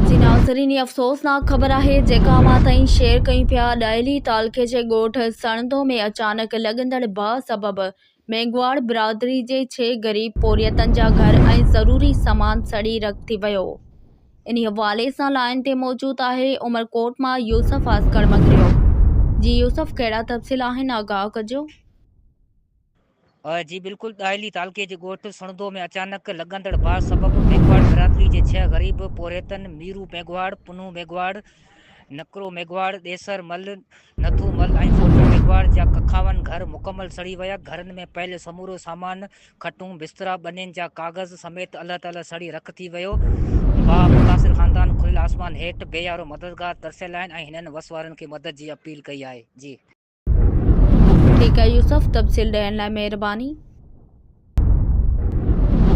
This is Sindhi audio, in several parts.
جي ناظرين هي افسوسناڪ خبر آهي جيڪا اوهان تائين شيئر ڪيون پيا ڏاهلي تعلقي جي ڳوٺ سڻڌو ۾ اچانڪ لڳندڙ باهه سبب مينگهواڙ برادري جي ڇهه غريب پورهيتن جا گهر ۽ ضروري سامان سڙي رک ٿي ويو انهي حوالي سان لائين تي موجود آهي عمرڪوٽ مان يوسف عسڪر مڱريو جي يوسف ڪهڙا تفصيل آهن آگاهه ڪجو. جي بلڪل ڏاهلي تعلقي جي ڳوٺ سڻڌو ۾ اچانڪ لڳندڙ باهه سبب ميگهواڙ برادري جي ڇهه غريب پورهيتن ميرو ميگهواڙ، پنهون ميگهواڙ، نڪرو ميگهواڙ، ڏيسر مل، نٿو مل ۽ ڦوٽو ميگهواڙ جا ڪکاون گهر مڪمل سڙي ويا، گهرن ۾ پيل سمورو سامان، کٽون، بسترا، ٻنين جا ڪاغذ سميت الله تعاليٰ سڙي رک ٿي ويو، باهه متاثر خاندان کليل آسمان هيٺ بي يارو مددگار ترسيل آهن ۽ هنن وس وارن کي مدد جي اپيل ڪئي آهي. ٺيڪ آهي يوسف، تفصيل ڏيڻ لاء مهرباني.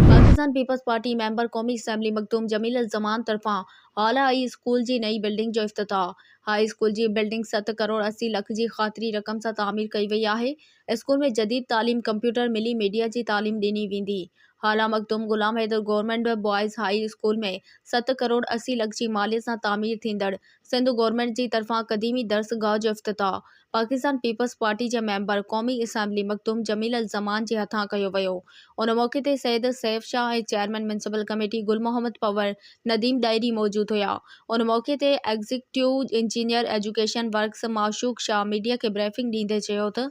پاڪستان پيپلز پارٽي ميمبر قومي اسيمبلي مخدوم جميل الزمان طرفان هالا هائي اسڪول جي نئين بلڊنگ جو افتتاح، هاء اسڪول جي بلڊنگ ست ڪروڙ اسي لک جي خاطري رقم سان تعمير ڪئي وئي آهي، اسڪول ۾ جديد تعليم، ڪمپيوٽر، ملي ميڊيا جي تعليم ڏني ويندي، Hala Makhdoom Ghulam Haider government boys high school ۾ ست ڪروڙ اسي لک جي ماليت سان تعمير ٿيندڙ سنڌ گورنمينٽ جي طرفان قديمي درس گاهه جو افتتاح پاڪستان پيپلز پارٽي جي ميمبر قومي اسيمبلي مخدوم جميل الزمان جي هٿان ڪيو ويو ان موقعي تي Syed Saif Shah ۽ chairman municipal committee Gul Muhammad Panhwar Nadeem Dahri موجود هيا ان موقعي تي executive engineer education works Mashooq Shah media کي بريفنگ ڏيندي چيو ته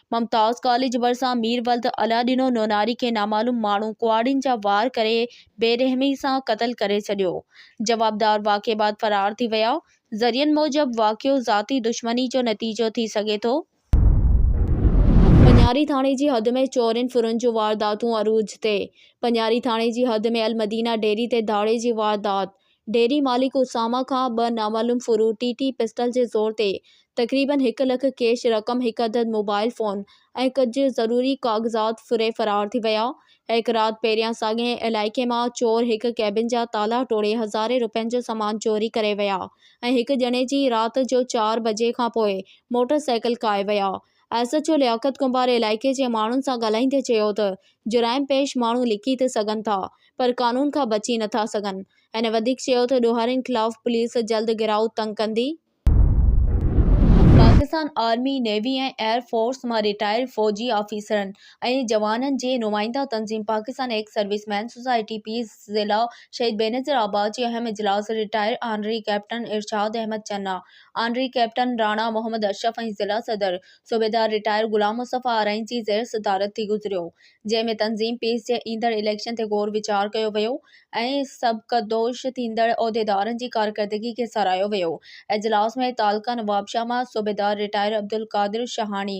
ممتاز ڪاليج ڀرسان مير ولد الله ڏنو نوناري کي نامعلوم ماڻهو ڪهاڙين جا وار ڪري بي رحمي سان قتل ڪري ڇڏيو، جوابدار واقعي بعد فرار ٿي ويا، ذريعن موجب واقعو ذاتي دشمني جو نتيجو ٿي سگهي ٿو. پنياري ٿاڻي جي حد ۾ چورين ڦرن جون وارداتون عروج تي، پنياري ٿاڻي جي حد ۾ المدينه ڊيري تي ڌاڙي جي واردات، ڊيري مالڪ اسامه کان ٻه نامعلوم فروٽي ٽي پسٽل جي زور تي تقريبن هڪ لک ڪيش رقم، هڪ عدد موبائيل فون ۽ ڪجهه ضروري ڪاغذات ڦري فرار ٿي ويا. هڪ رات پهريان ساڳئي علائقي مان چور هڪ ڪيبن جا تالا ٽوڙي هزارين رپين جو سامان چوري ڪري ويا ۽ هڪ ڄڻي جي رات جو چار بجي کانپوء موٽر سائيڪل کائي ويا ۽ S H O Liaquat Kumbhar علائقي جي ماڻهن سان ڳالهائيندي چيو ته جرائم پيش ماڻهو لڪي ته سگهن ٿا پر قانون کان بچي نٿا سگهن، هن وڌيڪ چيو ته ڏوهارين خلاف پوليس جلد گهيرائو تنگ ڪندي. Pakistan army, navy ۽ air force مان رٽائرڊ فوجي آفيسرن ۽ جوانن جي نمائنده تنظيم پاڪستان ايڪس سروس مين سوسائٽي پي ضلع شهيد بينظير آباد جي اهم اجلاس retired honorary captain Irshad Ahmed Channa, honorary captain Rana Muhammad Ashraf ۽ ضلع صدر صوبيدار رٽائر غلام مصطفيٰ آرائين جي زير صدارت ٿي گذريو، جنهن ۾ تنظيم پيس جي ايندڙ اليڪشن تي غور ويچار ڪيو ويو ۽ سبڪدوش ٿيندڙ عهديدارن جي ڪارڪردگي کي ساراهيو ويو. اجلاس ۾ تعلقه نوابشاهه مان صوبيدار رٽائر عبدالقادر شاهاڻي،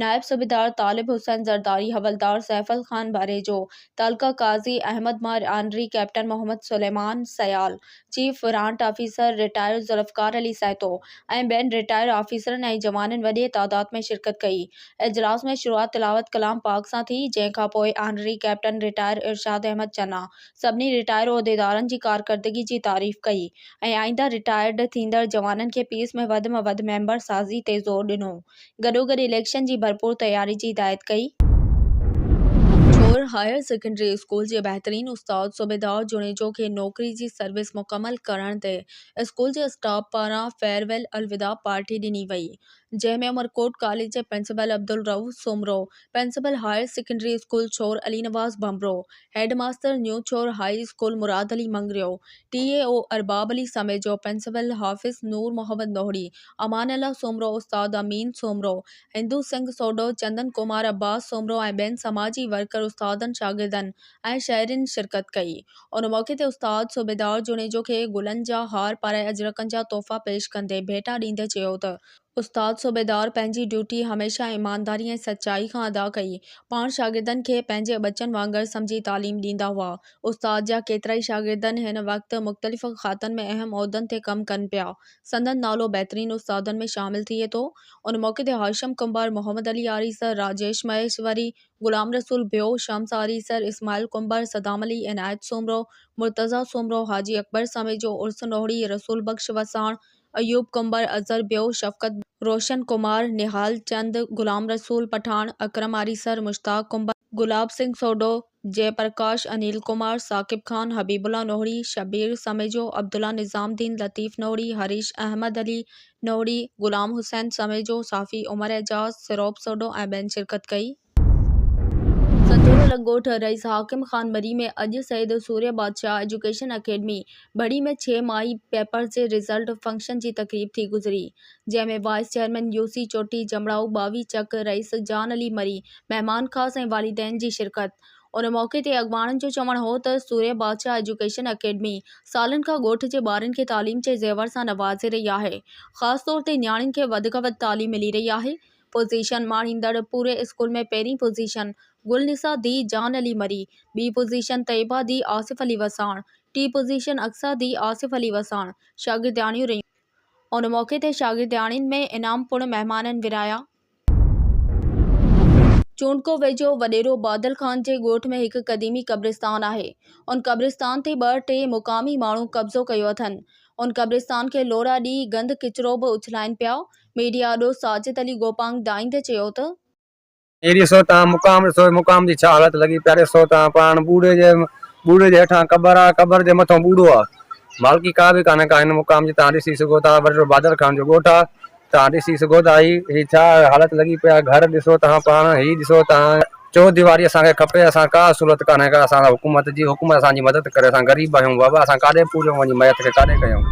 نائب صوبيدار طالب حسين زرداري، حولدار سيفل خان ڀريجو، تعلقه قاضي احمد مار honorary, captain Muhammad Suleman Sial, chief warrant officer retired Zulfiqar Ali Sahito ۽ ٻين رٽائرڊ آفيسرن ۽ جوانن وڏيء تعداد ۾ شرڪت ڪئي. اجلاس ۾ شروعات تلاوت ڪلام پاڪ سان ٿي، جنهن کان پوء honorary captain retired Irshad Ahmed Channa سڀني رٽائرڊ عهديدارن جي ڪارڪردگي جي تعريف ڪئي ۽ آئنده رٽائرڊ ٿيندڙ جوانن کي پيس ۾ وڌ ۾ وڌ ميمبر سازي تي زور ڏنو. گڏوگڏ اليڪشن جي ڀرپور تياري جي هدايت ڪئي. ٺور هائير سيڪنڊري اسڪول جي بهترين استاد صوبيدار جوڻيجو کي نوڪري جي سروس مڪمل ڪرڻ تي اسڪول جي اسٽاف پاران فيئر ويل الوداع پارٽي ڏني وئي جنهن ۾ عمرڪوٽ ڪاليج جي principal Abdul Rauf Soomro, principal higher secondary school Chhor Ali Nawaz Bhanbhro, head master new Chhor high school Murad Ali Mangrio, T E O Arbab Ali Samejo, principal Hafiz Noor Muhammad Nohri, Amanullah Soomro, استاد امين سومرو، هندو سنگهه سوڍو، چندن ڪمار، عباس سومرو ۽ ٻين سماجي ورڪر، استادن، شاگردن ۽ شهرين شرڪت ڪئي. ان موقعي تي استاد صوبيدار جوڻيجو کي گلن جا هار پارائي اجرڪن جا تحفا پيش ڪندي ڀيٽا ڏيندي چيو ته استاد صوبيدار پنهنجي ڊيوٽي هميشه ايمانداري ۽ سچائي کان ادا ڪئي. پاڻ شاگردن کي پنهنجي ٻچن وانگر سمجهي تعليم ڏيندا هئا. استاد جا ڪيترائي شاگردن هن وقت مختلف کاتن ۾ اهم عهدن تي ڪم ڪن پيا. سندن نالو بهترين استادن ۾ شامل ٿئي ٿو. ان موقعي تي هاشم ڪنڀر، محمد علي آريسر، راجيش مهيشوري، غلام رسول ڀيو، شمس آريسر، اسماعيل ڪنڀر، صدام علي، عنايت سومرو، مرتضيٰ سومرو، حاجي اڪبر سميجو، عرس نوهڙي، رسول بخش وساڻ، ايوب قنبر، اظهر بيو، شفقت بيگ، روشن ڪمار، نهال چند، غلام رسول پٺاڻ، اڪرم آريسر، مشتاق قنبر، گلاب سنگهه سوڍو، جئه پرڪاش، انيل ڪمار، ثاقب خان، حبيب الله نوهڙي، شبير سميجو، عبدالله نظام الدين، لطيف نوهڙي، هريش احمد علي نوهڙي، غلام حسين سميجو، صحافي عمر اعجاز، سروپ سوڍو ۽ ٻين شرڪت ڪئي. سچورو الڳ ڳوٺ، رئيس حاڪم خان ٻڙي ۾ اڄ سيد سوريه بادشاهه ايجوڪيشن اڪيڊمي ٻڙي ۾ ڇهه ماهي پيپرز جي رزلٽ فنڪشن جي تقريب ٿي گذري جنهن ۾ وائيس چيئرمين يوسي چوٽي جمڙائو ٻاوهي چڪ رئيس جان علي مري مهمان خاص ۽ والدين جي شرڪت ان موقعي تي اڳواڻن جو چوڻ هو ته سوريه بادشاهه ايجوڪيشن اڪيڊمي سالن کان ڳوٺ جي ٻارن کي تعليم جي زيور سان نوازي رهي آهي خاص طور تي نياڻين کي وڌ کان وڌ تعليم ملي رهي آهي پوزيشن ماڻيندڙ پوري اسڪول ۾ پهرين پوزيشن گل نثار ڌيء جان علي مري، ٻي پوزيشن طيبه ڌيء آصف علي وساڻ، ٽين پوزيشن اقصيٰ ڌيء آصف علي وساڻ شاگردياڻيون رهيون. ان موقعي تي شاگردياڻين ۾ انعام پڻ مهمانن ورهايا. چونڊڪو ويجهو وڏيرو بادل خان جي ڳوٺ ۾ هڪ قديمي قبرستان آهي. ان قبرستان تي ٻه ٽي مقامي ماڻهو قبضو ڪيو اٿن. ان قبرستان کي لوڙها ڏئي گند ڪچرو به اڇلائين پيا. ميڊيا دوست ساجد علي گوپانگ دائيندي چيو ته. اهڙيء صورت تان مقام ڏسو، مقام جي ڇا حالت لڳي پيا ڏسو تان پاڻ ٻوڙي جي ٻوڙي جي هيٺان قبر آ، قبر جي مٿئون ٻوڙو آ. مالڪي ڪا به ڪانهي ڪا هن مقام جي تان ڏسي سگهو ٿا ورهيڙو بهادر خان جو ڳوٺ آ، تان ڏسي سگهو ٿا هي هي ڇا حالت لڳي پيا گهر ڏسو تان پاڻ هي ڏسو تان. چون ديواري اسان کي کپي اسان ڪا سھولت ڪانھي ڪا اسان سان حڪومت جي حڪومت اسان جي مدد ڪري اسان غريب آھيون بابا اسان ڪاڏي پوريون وڃي ميت کي ڪاڏي ڪيون.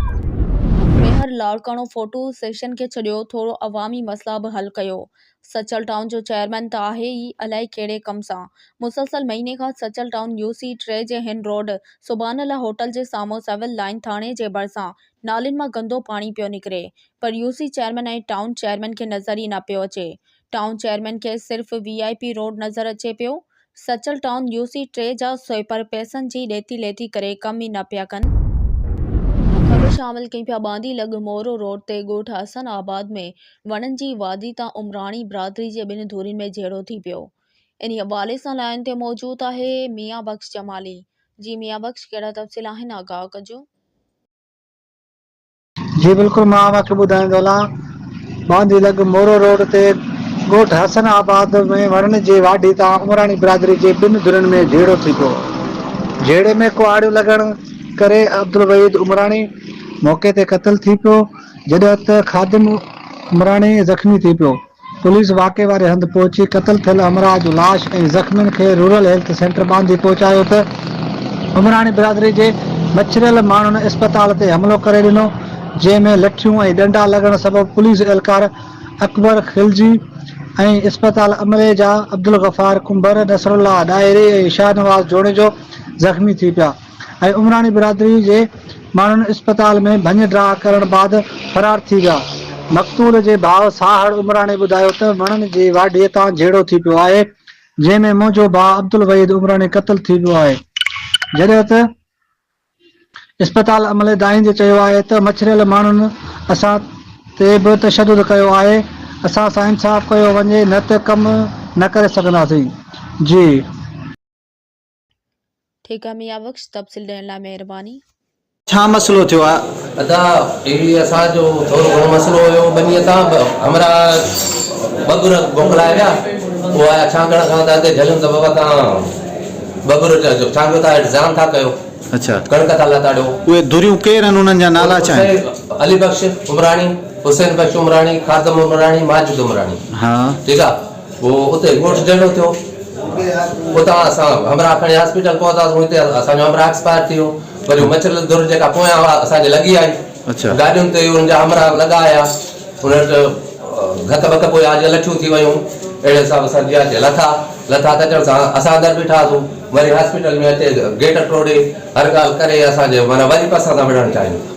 ميهر لاڙڪاڻو فوٽو سيشن کي ڇڏيو ٿورو عوامي مسئلا به حل ڪيو سچل ٽائون جو چيئرمين ته آهي ئي الائي ڪهڙي ڪم سان مسلسل مهيني کان سچل ٽائون يو سي ٽي جي هن روڊ سبحان الله هوٽل جي سامهون سول لائين ٿاڻي جي ڀرسان نالين مان گندو پاڻي پيو نڪري پر U C chairman ۽ town chairman کي نظر ئي نه پيو اچي ٽائون چيئرمين کي صرف وي آء پي روڊ نظر اچي پيو. سچل ٽائون يو سي ٽي جا سوئيپر پئسن جي ڏيتي ليتي ڪري ڪم ئي نه پيا ڪن. خبر شامل ڪئي پيا باندي لڳ مورو روڊ تي ڳوٺ حسن آباد ۾ وڻن جي وادي تان عمراڻي برادري جي ٻن ڌرين ۾ جهيڙو ٿي پيو. انهي حوالي سان لائين تي موجود آهي ميان بخش جمالي. جي ميان بخش ڪهڙا تفصيل آهن آگاهه ڪجو. جي بلڪل مان اوهان کي ٻڌائيندو هلان. باندي لڳ مورو روڊ تي ڳوٺ حسن آباد ۾ وڻن جي واڍي تان عمراڻي برادري جي ٻن ڌرين ۾ جهيڙو ٿي پيو. جهيڙي ۾ ڪهاڙيون لڳڻ ڪري عبدالوحيد عمراڻي موقعي تي قتل ٿي پيو جڏهن ته خادم عمراڻي زخمي ٿي پيو. پوليس واقعي واري هنڌ پهچي قتل ٿيل همراهه جو لاش ۽ زخمين کي رورل هيلٿ سينٽر ٻانڌي پهچايو ته عمراڻي برادري جي مڇريل ماڻهن اسپتال تي حملو ڪري ڏنو جنهن ۾ لٺيون ۽ ڏنڊا لڳڻ سبب پوليس اهلڪار اڪبر خلجي ۽ اسپتال عملي جا عبدالغفار ڪنڀر، نصرالله ڏاهري ۽ شاهنواز جوڻيجو زخمي ٿي پيا. ۽ عمراڻي برادري جي ماڻهن اسپتال ۾ ڀڃ ڊاهه ڪرڻ بعد فرار ٿي ويا. مقتول جي ڀاء ساهڙ عمراڻي ٻڌايو ته وڻن جي واڍي تان جهيڙو ٿي پيو آهي، جنهن ۾ منهنجو ڀاء عبدالوحيد عمراڻي قتل ٿي ويو آهي، جڏهن ته اسپتال عملي دانهيندي چيو آهي ته مڇريل ماڻهن اسان تي به تشدد ڪيو آهي، اسان سان انصاف ڪيو وڃي نه ته ڪم نه ڪري سگهنداسين. جي. ٺيڪ آ ميان بخش تفصيل ڏيڻ لاء مهرباني. ڇا مسئلو ٿيو آ؟ ادا اهڙي اسان جو ٿورو گهڻو مسئلو هيو ٻنيء تان ٻه همراهه ٻه ڳر موڪلائي ويا هو آيا ڇانگڻ کان ته اتي جهليم ته بابا تان ٻه ڳر چئجو ڇانگيو ٿا هيٺ زيان ٿا ڪيو اڇا ڪڻڪ ٿا لتاڙيو. اهي ڌريون ڪير هن انهن جا نالا ڇا آهن؟ حسين علي بخش عمراڻي حسين بخش عمراڻي خادم عمراڻي ماجد عمراڻي ها ٺيڪ آ. هو اتي ڳوٺ جهڙو ٿيو. اتان اسان همراهه کڻي هاسپيٽل پهتاسون. هتي اسان جو همراهه ايڪسپائر ٿي ويو. وري اها مڇر ڌر جيڪا پويان هئا اسان جي لڳي آئي. گاڏين تي ان جا همراهه لڳا آيا. ان وٽ گهڪ ٻڪ پويان جيئن لٺيون ٿي ويون اهڙي حساب سان جيئان تيئن لٿا. لٿا ته اچڻ سان اسان اندر بيٺاسون. وري هاسپيٽل ۾ اچي گيٽ ٽوڙي هر ڳالهه ڪري اسان جي معنيٰ وري پئسا ٿا وڙهڻ چاهيون.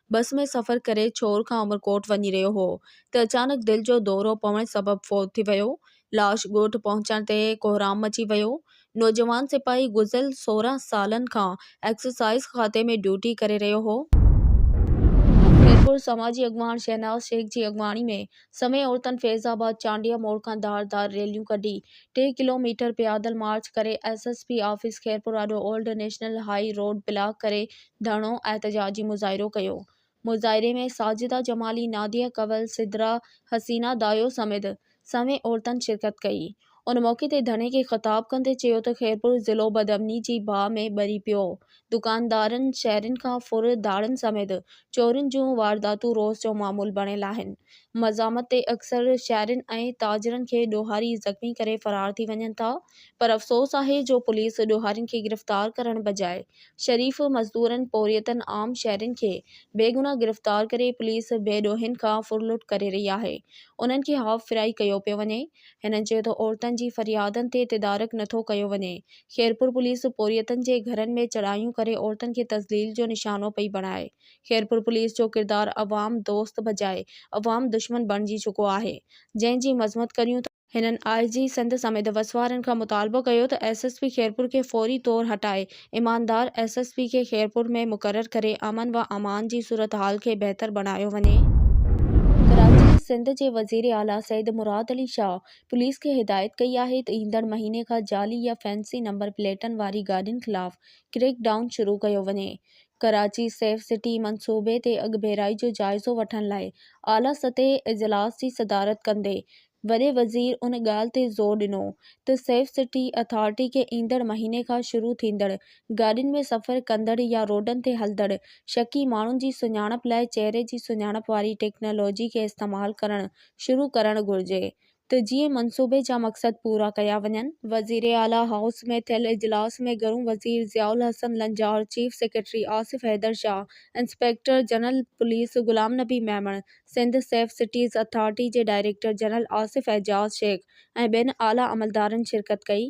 بس ۾ سفر ڪري ڇور کان عمرڪوٽ وڃي رهيو هو ته اچانڪ دل جو دورو پوڻ سبب فوت ٿي ويو. لاش ڳوٺ پهچڻ تي ڪوهرام مچي ويو. نوجوان سپاهي گذريل سورهن سالن کان ايڪسرسائيز کاتي ۾ ڊيوٽي ڪري رهيو هو. خيرپور سماجي اڳواڻ شهناز شيخ جي اڳواڻي ۾ سوين عورتن فيض آباد چانڊيه موڙ کان ڌار ڌار ريليون ڪڍي ٽي ڪلو ميٽر پيادل مارچ ڪري S S P office Khairpur آڏو old national high road block ڪري ڌرڻو احتجاجي مظاهرو ڪيو مظاهري ۾ ساجده جمالي ناديه ڪنول سدرا حسينا دايو سميت سوين عورتن شرڪت ڪئي ان موقعي تي ڌرڻي کي خطاب ڪندي چيو ته خيرپور ضلعو بدامني جي باهه ۾ ٻري پيو دڪاندارن شهرين کان ڦر ڌاڙن سميت چورين جون وارداتون روز جو معمول بڻيل آهن مزاحمت تي اڪثر شهرين ۽ تاجرن کي ڏوهاري زخمي ڪري فرار ٿي وڃن ٿا پر افسوس آهي جو پوليس ڏوهارين کي گرفتار ڪرڻ بجاء شريف مزدورن، پورهيتن، عام شهرين کي بيگناهه گرفتار ڪري پوليس بي ڏوهين کان ڦر لٽ ڪري رهي آهي، انهن کي هاف فرائي ڪيو پيو وڃي. هنن چيو ته عورتن جي فريادن تي تدارڪ نه ٿو ڪيو وڃي، خيرپور پوليس پورهيتن جي گهرن ۾ چڙهايون ڪري عورتن کي تذليل جو نشانو پئي بڻائي، خيرپور پوليس جو ڪردار عوام دوست بجاء عوام دشمن بڻجي چڪو آهي، جنهن جي مذمت ڪريون ٿا. هنن آء جي سنڌ سميت وسوارن کان مطالبو ڪيو ته ايس ايس پي خيرپور کي فوري طور هٽائي ايماندار ايس ايس پي کي خيرپور ۾ مقرر ڪري امن و امان جي صورتحال کي بهتر بڻايو وڃي. ڪراچي، سنڌ جي وزير اعليٰ سيد مراد علي شاهه پوليس کي هدايت ڪئي آهي ته ايندڙ مهيني کان جعلي يا فينسي نمبر پليٽن واري گاڏين خلاف ڪريڪ ڊائون شروع ڪيو وڃي. ڪراچي سيف سٽي منصوبي تي اڳڀيرائي جو جائزو وٺڻ لاء اعليٰ سطحي اجلاس جي صدارت ڪندي وڏي وزير ان ڳالهه تي زور ڏنو ته سيف سٽي اٿارٽي کي ايندڙ مهيني کان شروع ٿيندڙ گاڏين ۾ سفر ڪندڙ يا روڊن تي هلندڙ شڪي ماڻهن جي سڃاڻپ لاء چهري جي سڃاڻپ واري ٽيڪنالاجي کي استعمال ڪرڻ شروع ڪرڻ گهرجي ته جيئن منصوبي جا مقصد پورا ڪيا وڃن. وزيراعليٰ هائوس ۾ ٿيل اجلاس ۾ گهرو وزير Zia Ul Hassan Lanjar, chief secretary Asif Haider Shah, inspector general police Ghulam Nabi Memon, Sindh safe cities authority جي ڊائريڪٽر جنرل آصف اعجاز شيخ ۽ ٻين اعليٰ عملدارن شرڪت ڪئي.